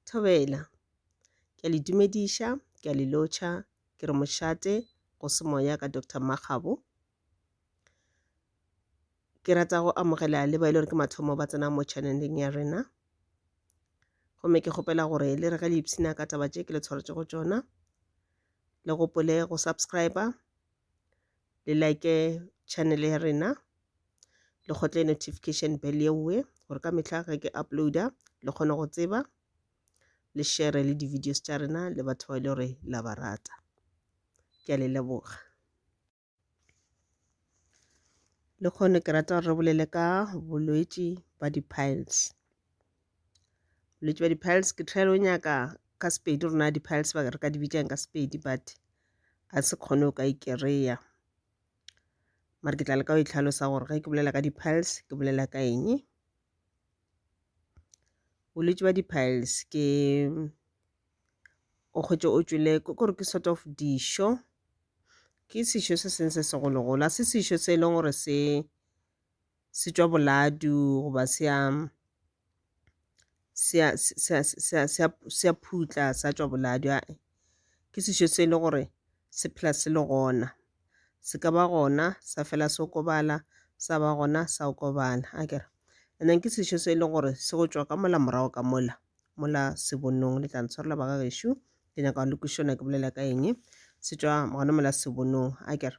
Thobela. Ke a le dumediša, ke a le lotšha, ke re mošate go se moya ka Doctor Mmakgabo. Ke rata go amogela le ba e le gore ke mathomo ba tsenang mo channel-eng ya rena. Gomme ke kgopela gore le re ge le ipshina ka taba tše ke le tshwaretšego tšona, le gopole go subscribe-a, le like channel ya rena le kgotle notification bell yeowe gore ka mehla ge ke uploada le kgone go tseba le share le di-videos tša rena le batho ba e le gore la ba rata ke a le leboga le kgone ke rata gore re bolele ka bolwetši ba di-piles bolwetši bja di-piles ke try o nyaka ka sepedi rona di-piles ba re ka di bitšang ka sepedi but a se kgone o ka e kereya mare ke tla leka go itlhalosa gore ge ke bolela ka di-piles ke bolela ka eng bolwetši bja di-piles ke o kgwetše o tšwele ke gore ke sort of dišo ke sešo se sengwe se segologolo a se sešo se e leng gore se se tšwa boladu goba se a se a se a se a se a se a phutla sa tšwa boladu ae, ke sešo se le gore se phela se le gona. Se ka ba gona sa fela se okobala sa ba gona sa okobala akere. And then ke sešo se e leng gore se go tšwa ka mola morago ka mola mola se bonong le tla ntshwarela ba ga gešo ke nyaka go le kwešiša gore ke bolela ka eng se tšwa gona mola se bonong akere.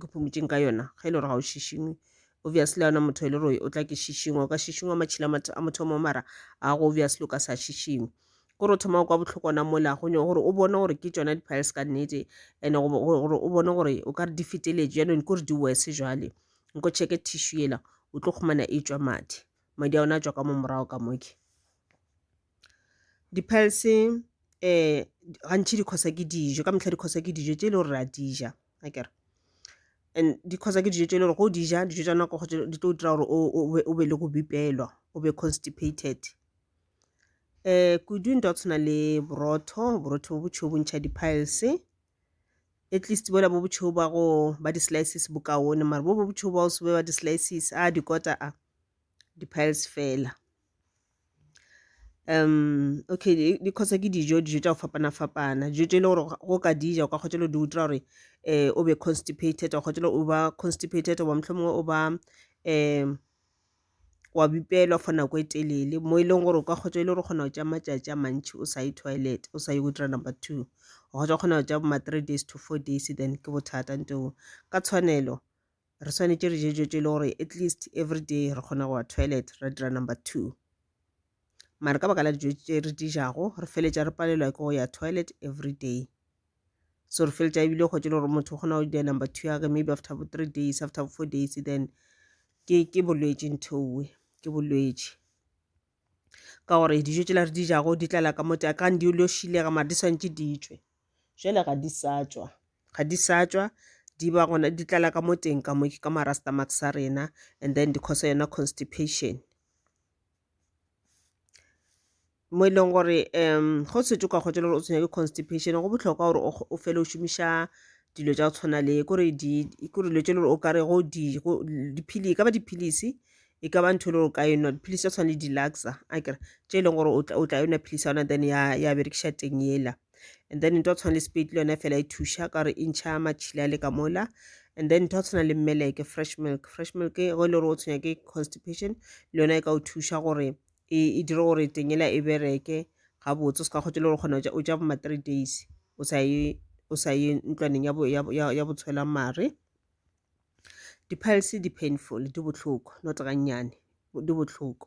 ke phomotšeng ka yona ge e le gore ga o šišingwe obviously a ona motho e le gore o tla ke šišingwa o ka šišingwa matšhila a motho mo mara a go obviously o ka sa šišingwe gore o thoma kwa bohloko ona mola gonyo gore o bone gore ke tsona di-piles ka nnete and-e gore o bone gore o ka re di feteletse jaanong ke gore di wese jale nko checke tissue ela o tlo kgomana e tswa madi madi a ona a tswa ka mo morago ka moke Di-pearls-e gantši di cause-a ke dijo, ka mehla di cause-a ke dijo tše e le gore re a di ja akere. And di cause-a ke dijo tše e le gore ge o di ja dijo tša nako di tlo dira gore o be le go bipelwa o be constipated. Kudu ntwa go tshwana le borotho, borotho bo bošweu bo ntšha di-piles-e at least bola bo bošweu ba go ba di-slices bo kaone mare bo bo bošweu ba go se be ba di-slices a dikota a di-piles fela. Okay di kgotsa ke dijo, dijo tša go fapana-fapana. Dijo tše e le gore ga o ka di ja o ka kgotša le go di utlwa gore o be constipated wa kgotša le go ba constipated goba mohlomongwe o ba wa bipelwa for nako e telele mo e leng gore o ka kgotša e le gore o kgona go tšea matšatši a mantši o sa ye toilet o sa ye go dira number two. O kgotša go kgona go tšea bo ma three days to four days then ke bothata ka tshwanelo re swanetše re je dijo tše e le gore at least every day re kgona go wa toilet ra dira number two mare ka baka la dijo tše re di jago re feletša re palelwa ke go ya toilet every day so re feletša ebile go tše le gore motho o kgona go dira number two yage maybe after bo three days after four days then ke ke bolwetši nthowe ke bolwetši ka gore dijo tšela re di jago di tlala ka mote a kang di lo šilega mare di swanetše di tšwe Jwale ga di sa tšwa, ga di sa tšwa di ba gona di tlala ka mo teng ka mo ke ka marastamax sa rena and then di cause yona constipation mo e leng gore um go setse ka kgotsa gore o tshwenya ke constipation go botlhokwa gore o fele o šomiša dilo tsa go tshwana le kore di kore dilo tse le gore o kare go di go dipilisi e ka ba dipilisi e ka ba ntho e le gore ka enwa dipilisi tsa tshwana le di-luxa a kere tse e leng gore o tla enwa pilisi ya yona then ya ya berekiša teng ela and then ntho tshwana le spate le yone fela e thuša ka gore e ntšha matšhila a le ka mola and then ntho tshwana le mmeleke fresh milk fresh milk ge e le gore o tshwenya ke constipation le yone e ka o thuša gore e, e dire gore tengela e bereke gabotse o se ka kgotse le gore kgona o ja boma three days o sa ye o sa ye ntlwaneng ya botshwela mare di-pilse di-painful di bohloko not gannyane di bohloko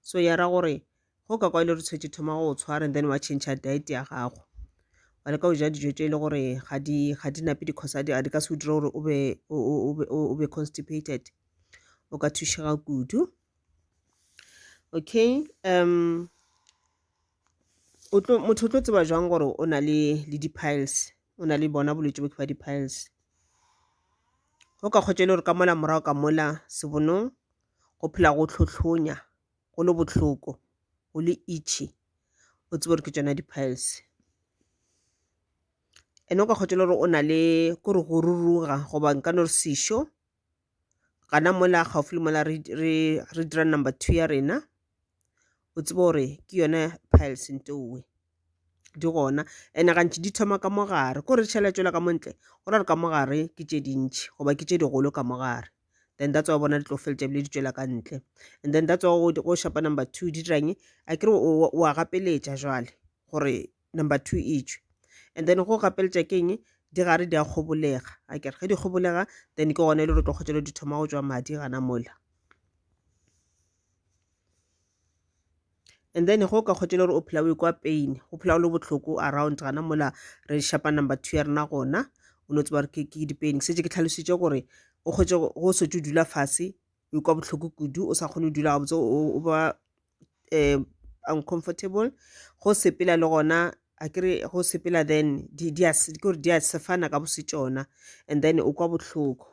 So ya ra gore ge o ka kwa e le gore tshwetše thoma go tshwara and then wa change diet ya gago wa leka go ja dijo tše e le gore ga di ga di nape dikgosa di ka se o dire gore o be o be constipated o ka thušega kudu okay um motho o tlo tseba jwang gore o na le le di-piles o na le bona bolwetse bo ke ba di-piles o ka kgotsa e le gore ka mola morago ka mola sebonong go phela go tlhotlhonya go le bohloko go le itchy o tsebe gore ke tšona di-piles ene o ka kgotsa le gore o na le ko re go ruruga goba nka no re sešo gana mola gaufi le mola re dira number two ya rena o tsebe gore ke yone piles nteowe di gona ene gantši di thoma ka mogare ko re tšhela tšwela ka montle go ra re ka mogare ke tše dintšhi goba ke tše digolo ka mogare then that's why bona di tlo feletša bile di tšwela ka ntle and then that's why go shapa number two di dirang a kere o a gapeletša jwale gore number two e tšwe and then go gapeletša ke eng di gare di a kgobolega a kere ge di kgobolega then ke gona e le gore tlo kgotšelo di thoma go tšwa madi gana mola and then go ka kgotšele gore o phela o e kwa pain go phela o le bohloko around gana mola re shapa number two ya rena gona o no tseba gore ke di-pain ke setse ke tlhalositse gore o kgotse go setse o dula fase o ikwa bohloko kudu o sa kgone go dula gabotse o ba um uncomfortable go sepela le gona a kere go sepela then ke gore di a sefana ka bosetšona and then o kwa bohloko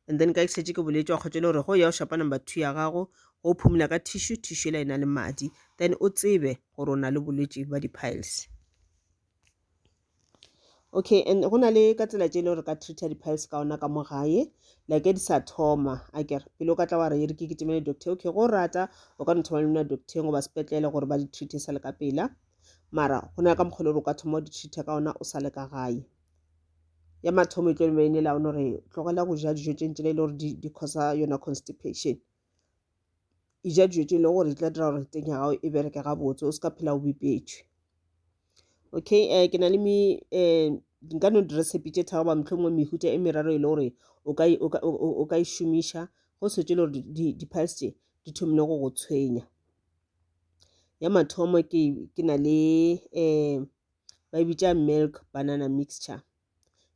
and then ka ke šetše ke boletše wa kgotšele gore go ya o shapa number two ya gago go phumula ka tissue tissue la e na le madi then o tsebe gore o na le bolwetši ba di-piles okay and go na le ka tsela tše e le gore ka treater di-piles ka ona ka mo gae like di sa thoma a kere pele o ka tla wa re re ke ke temele doctor okay go rata o ka no thoma le mna doctorng goba sepetlele gore ba di-treate sa le ka pela mara go na le ka mokgwa le gore o ka thoma o di-treater ka ona o sa le ka gae ya mathomo e tlo be e ne laone gore tlogela go ja dijo tše ntsela e le gore di causa yona constipation e ja dijo tše e le gore di tla dira gore teng ya gago e bereke gabotse o se ka phela o bipetšwe okay um ke na le mi um nka no recipe tše tharo ba mohlomongwe mehuta e meraro e le gore o ka e šomiša go setse e le gore di-piles tše di thomile go go tshwenya ya mathomo ke na le um ba e bitša milk banana mixture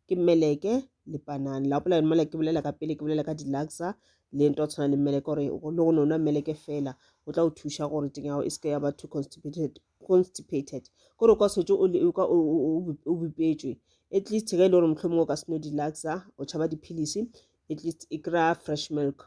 ke meleke le panana la gopola mele ke bolela ka pele ke bolela ka dilaxa le nto tshwana le meleke gore le go no nwa meleke fela o tla o thuša gore teng ya gago e seke ya ba too constipated constipated ko re kwa setse o bipetswe at least ge e le gore mohlomong o ka seno dilaxa o tšhaba diphilisi at least e kry-a fresh milk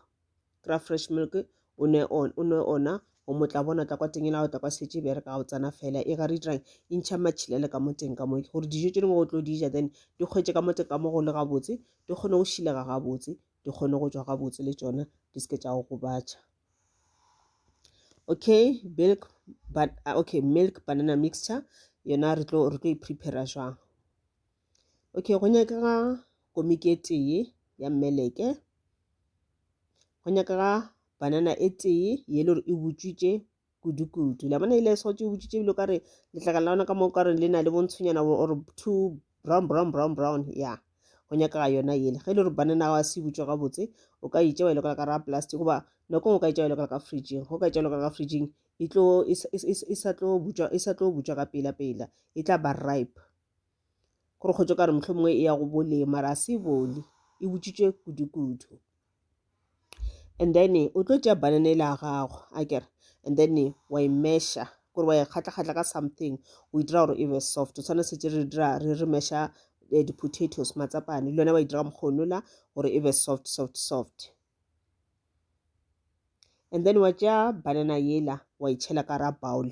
kry-a fresh milk o nwe o nwe ona o mo tla bona tla kwa teng ela o tla kwa setse bere ka o tsana fela e ga re dirang e ntšha matšhilele ka mo teng ka mo gore dijo tse dingwe go tlo dija then di kgwetse ka mo teng ka mo go le gabotse di kgone go šilega gabotse di kgone go tswa gabotse le tsona di seke tša go gobatša okay milk but ah, okay milk banana mixture yona re tlo re tlo e prepara jwang Okay, go nyakega komiki e tee ya mmeleke. Go nyakega banana e tee ye le gore e butswitše kudu-kudu. La bona ile e sotse e butswitše ebile o ka re letlakala la ona ka moo ka re le na le bontshonyana or two brown brown brown brown ya yeah. go nyakega yona ele ge e le gore banana wa se butswe gabotse o ka itša wa e lokela ka ra plastic goba nako ngwe o ka itša wa e lokela ka fridging go ka itša wa e lokela ka fridging e sa tlo butswa ka pela pela e tla ba ripe gore kgotso ka re motlho mongwe e ya go bole mara se bole e botsitswe kudu-kudu and then o tlo tšea banana ele ya gago a kere and then wa e mesha gore wa e kgatla-kgatla ka something o e dira gore e be soft o tshwana setse re dira re re mesha eh, di-potatoes matsapane le yone wa e dira mokgono la gore e be soft soft soft and then wa tšea banana yela wa e tšhela ka ra bowl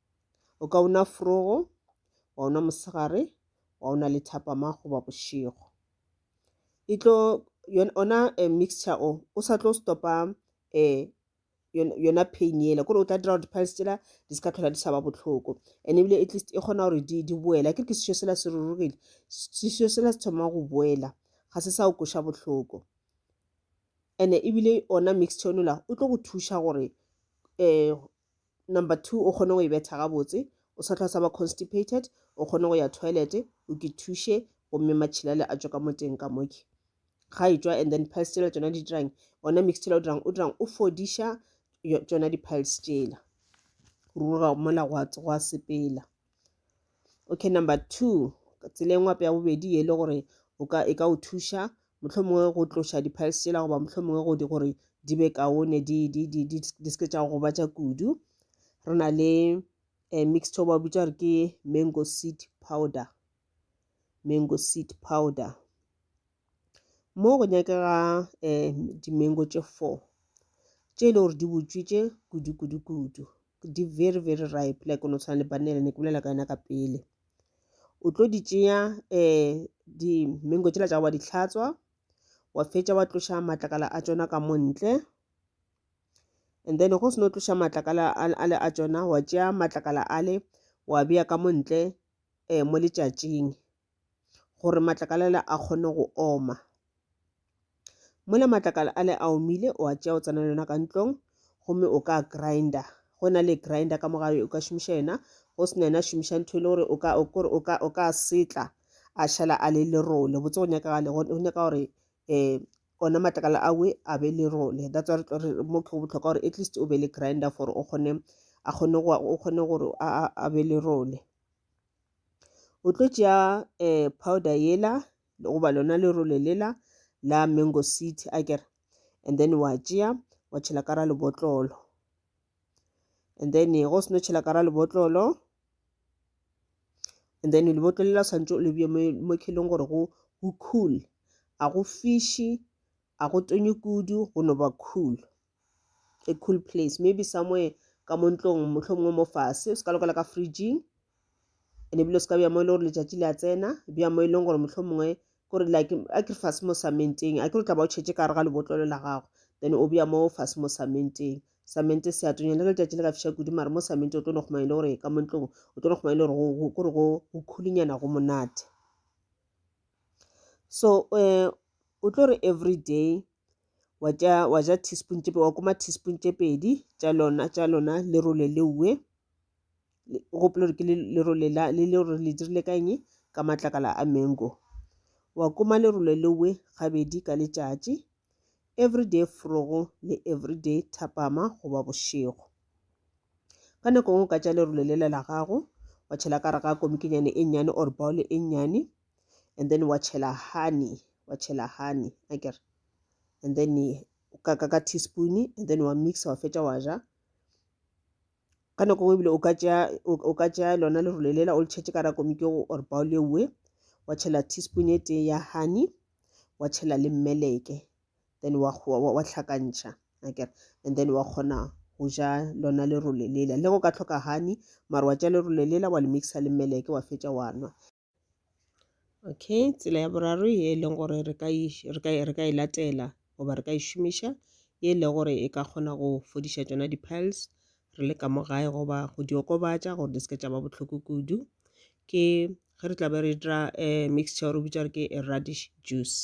O ka una forogo, wa una mosegare, wa una le thapama goba bošego. E tlo ona eh, mixture o o sa tlo stopa eh, yona pain yela kore o tla dira gore di-piles tsela di se ka tlhola di sa ba botlhoko and ebile at least e kgona gore di di boela ke ke sešo sela se rurugile sešo sela se thoma go boela ga se sa o koša botlhoko and ebile ona mixture onola o tlo go thuša gore um Number two, o kgone go e betha gabotse. O sa tlhwa sa ba constipated, o kgone go ya toilet, o ke thuše, gomme matšhilale a tšwa ka moteng ka moke. Ga e tšwa, and then piles tšela tšona di dirang, ona mix tšela o dirang, o dirang, o fodiša tšona di piles tšela. Ruruga mola gwa sepela. okay number two tsela e ngwape ya bobedi e le gore o ka e ka o thuša mohlomongwe go tloša di-piles tsela goba mohlomongwe go di gore di be kaone di di di di di seke tša go batša kudu re na le um mixture ba bitša gore ke mango seed powder mango seed powder mo go nyakega um dimengo tše four tše e le gore di botswitše kudu kudu kudu di very very ripe like o no tshwana le banele ne ke bolela ka yona ka pele o tlo di tšea um dimengo tšela tša wa di tlhatswa wa fetša wa tloša matlakala a tšona ka mo ntle and then go seno tloša matlakala ale a tšona wa tšea matlakala ale wa beya ka mo ntle um mo letšatšing gore matlakala ale a kgone go oma mola matlakala ale a omile o a tšea o tsena le yona ka ntlong gomme o ka grinder go na le grinder ka mogae o ka šomiša yena go sena yena šomiša ntho e le gore o ka o kore o ka o ka setla a šala a le lerole botse go nyaka gale go nyaka gore eh ona matlakala a we a be lerole that's why re mo ke go botlhokwa gore at least o be le grinder for o kgone a kgone go o kgone gore a be lerole o tlo tšea eh, powder yela goba lona lerole lela la mango seed a kere and then wa tšea wa tšhela ka ra lebotlolo and then eh, go seno tšhela ka ra lebotlolo and then lebotlolo lela tshwanetse o lebje mo kheleng gore go cool a go fiši a go tonye kudu go no ba cool a cool place maybe somewhere ka mo ntlong mohlomongwe mo fase o se ka lokela ka fridging and ebile o se ka bja mo e le gore letšatši le a tsena bja mo e leng gore mohlomongwe kore like a ke fase mo samenteng a ke re tla ba o tšhetse ka gare ga lebotlolo la gago then o bja mo fase mo samenteng samente se a tonya le ge letšatši le ka fiša kudu mare mo samente o tlo no kgomane le gore ka mo ntlong o tlo no kgomane le gore kore go khulinyana go monate so um o tlo re every day wa tša wa ja teaspoon tše wa kuma teaspoon tše pedi tša lona tša lona lerole leue gopolo gore ke lerole la le le gore le dirile ka eng ka matlakala a mango wa kuma lerole leue gabedi ka letšatši everyday frogo le everyday thapama goba bošego ka nako ngwe ka tša lerole lela la gago wa tšhela ka re ga komikinyane e nnyane or baole e nnyane and then wa tšhela honey wa tšhela honey a kere and then ka ka ka teaspoon and then wa mixa wa fetša wa ja ka nako nngwe ebile o ka tšea o ka tšea lona le role lela o le tšhetše ka ra komiki or bao le uwe wa tšhela teaspoon e tee ya honey wa tšhela le mmeleke then wa wa hlakantšha akere and then wa kgona go ja lona le role lela le go ka tlhoka honey mara wa tša le role lela wa le mixa le mmeleke wa fetša wa nwa okay tsela ya boraro ye e leng gore re ka e re ka e re ka e latela goba re ka e šomiša ye e le gore e ka kgona go fodiša tšona di-piles re le ka mo gae goba go di okobatša gore di seke tša ba bohloko kudu ke ge re tla be re dira um mixture re bitša gore ke radish juice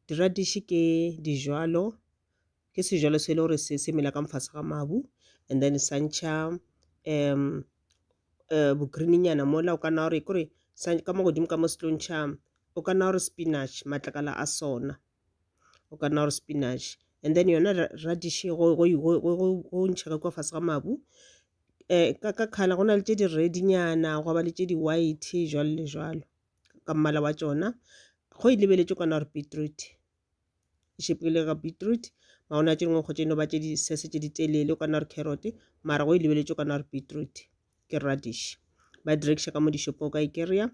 di-radish ke dijalo ke sejalo se e le gore se se mela ka mofase ga mabu and then sa ntšha um um bo green-nyana mola o ka nna wa re kore sa ka mo godimo ka mo se tlo ntšha o ka nna wa re spinach matlakala a sona o ka nna wa re spinach and then yona radish go ntšha ka kua fase ga mabu um ka ka colour go na le tše di red-nyana gwa ba le tše di white jwalo le jwalo ka mmala wa tšona go e lebeletše o ka nna wa re beetroot. ga beetroot maona tše dingwe go tše no ba tše di sese tše di telele o ka nna re carrot mara go e lebeletše o ka nna re beetroot ke radish ba di rekiša ka mo dishopong o ka e kry-a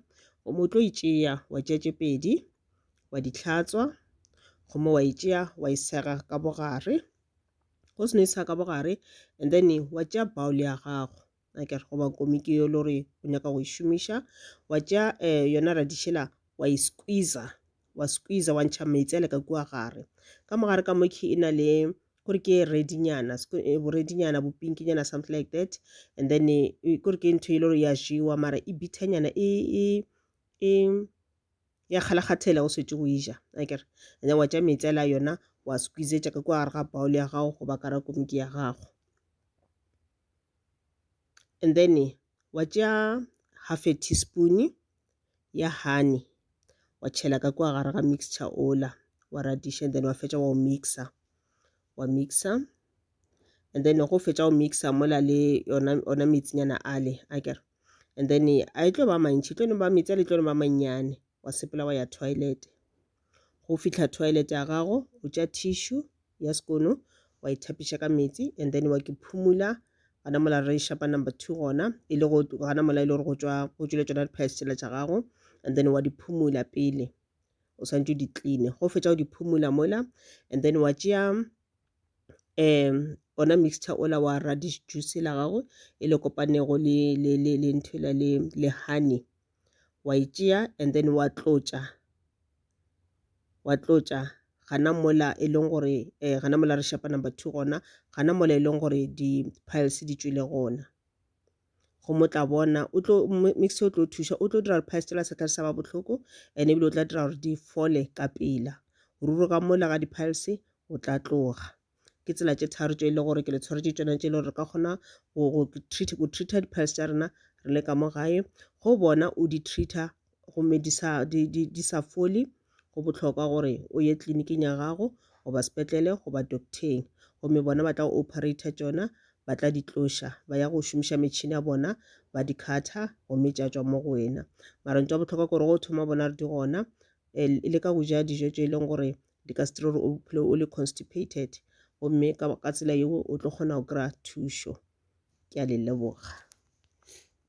gomo o tlo e tšea wa tšea tše pedi wa di tlhatswa gomo wa e tšea wa e sega ka bogare go seno e sega ka bogare and then wa tšea bowl ya gago a kere goba komiki yo le gore o nyaka go e šomiša wa tšea um yona radišela wa e squeezer wa squeezer wa ntšha meetse le ka kua gare ka mogare ka mokhi e na le kore ke redinyana eh, boredinyana bopinkinyana something like that and then eh, eh, kore ke ntho e le gore ya jewa mara e bithanyana e, e, e ya kgalakgathela o swetse go ija a kere and then wa tša meetse la yona wa squeezetša ka kua gare ga baole ya gago goba kara komiki ya gago and then wa tšea half a teaspoon ya honey wa tšhela ka kwa gare ga mixture ola wa radiša then wa fetša wa o mixa wa mixa and then go fetša o mixa mola le yona ona metsinyana ale a kere and then a e tlo ba mantši e tlo no ba metsi a le tlo no ba mannyane wa sepela wa ya toilet go fihla toilet ya gago o tša tissue ya sekono wa ithapiša ka meetse and then wa ke phumula gana mola re shapa number two gona e le gana mola e le gore go tšwa go tšwile tšona di-pies tsela tša gago and then wa di phumula pele o swantse o di cleane go fetša o di phumula mola and then wa tšea um ona mixture ola wa radish juice la gago e le kopanego le ntho le honey wa e tšea and then wa tlotša wa tlotša gana mola e leng gore um gana mola re shapa number two gona gana mola e leng gore di-piles di tšwile gona go mo tla bona o tlo mix o tlo thuša o tlo dira gore piles tšela sa tla sa ba bohloko and ebile o tla dira gore di fole ka pela ruri ka mola ga di-piles o tla tloga ke tsela tše tharo tše e le gore ke le tshwaretše tšona tše e le gore re ka kgona go go treat go treata di-piles tša rena re le ka mo gae go bona o di treata gomme di sa di di di sa fole go bohlokwa gore o ye tleliniking ya gago goba sepetlele goba docteng gomme bona ba tla go operator tšona ba tla di tloša ba ya go šomiša metšhini ya bona ba di khatha gomme tša tšwa mo go wena mara ntho ya bohlokwa ke gore go thoma bona re di gona um le ka go ja dijo tše e leng gore di ka se dire gore o phele o le constipated gomme ka, ka tsela yeo o tlo kgona go kry-a thušo ke a le leboga